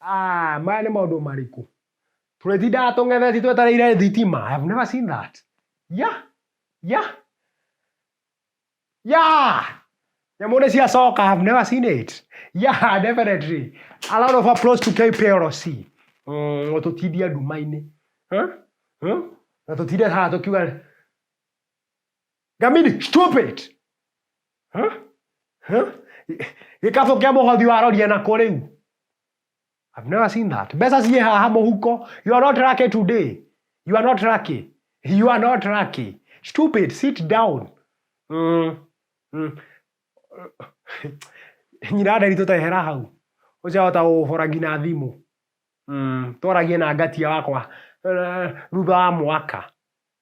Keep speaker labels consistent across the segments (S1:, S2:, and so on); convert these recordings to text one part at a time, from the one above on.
S1: Aah, maya nĩ maũndũ marĩkũ? Tũrĩtindaga tũng'etheti twetereire thitima? I have never seen that. Ya, ya, ya! Nyamũ nĩ ciacoka, I have never seen it. Ya, definitely. A lot of approach to KPLC. Mm, no tũtindie nduma-inĩ. Huh? Huh? Na tũtinde haha tũkiuga Gamini, stop it! Huh? Huh? Gĩkabũ kĩa mũhothi waroria nako rĩu. I've never seen that. Mbeca ciĩ haha mũhuko. You are not lucky today. You are not lucky. You are not lucky. Stupid, sit down. Mm. Mm. Nyina nderi tũtehera hau. Ũcahota gũbora nginya thimũ. Mm. Twaragie na ngatia wakwa eh, thutha wa mwaka.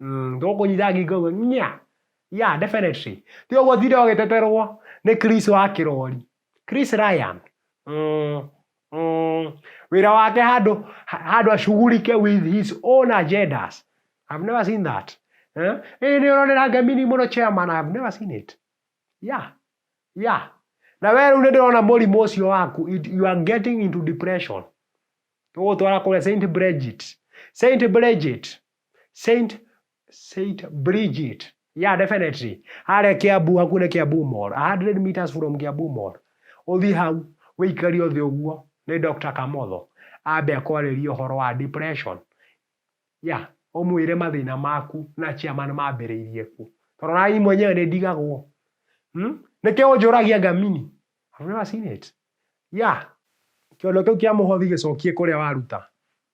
S1: ndũkũnyita ngingo ũguo nya ya definitely ti ũguo tinde ũgĩteterwo nĩ Chris wa kĩrori Chris Ryan mm, mm, wĩra wake handũ handũ ashugurike with his own agendas I've never seen that eh? ĩĩ nĩ ũronera ngemini mũno chairman I've never seen it yeah yeah na we rĩu nĩ ndĩrona mũrimũ ũcio waku it- you are getting into depression tũgũtwara kũrĩa Saint Bridget Saint Bridget Saint Saint Bridget. Yeah, definitely. Harĩa Kiambu hakuhĩ na Kiambu Mall, 100 meters from Kiambu Mall. Ũthiĩ hau, wĩikari ũthĩ ũguo, nĩ Dr. Kamotho. Ambe akwarĩrie ũhoro wa depression. Yeah, ũmwĩre mathĩna maku na chairman mambĩrĩirie kũ. Tondũ na niĩ mwenyewe nĩ ndigagwo. Hmm? Nĩkĩo ũnjũragia ngamini. I've never seen it. Yeah. Kĩondo kĩu kĩa mũhothi gĩcokie kũrĩa waruta.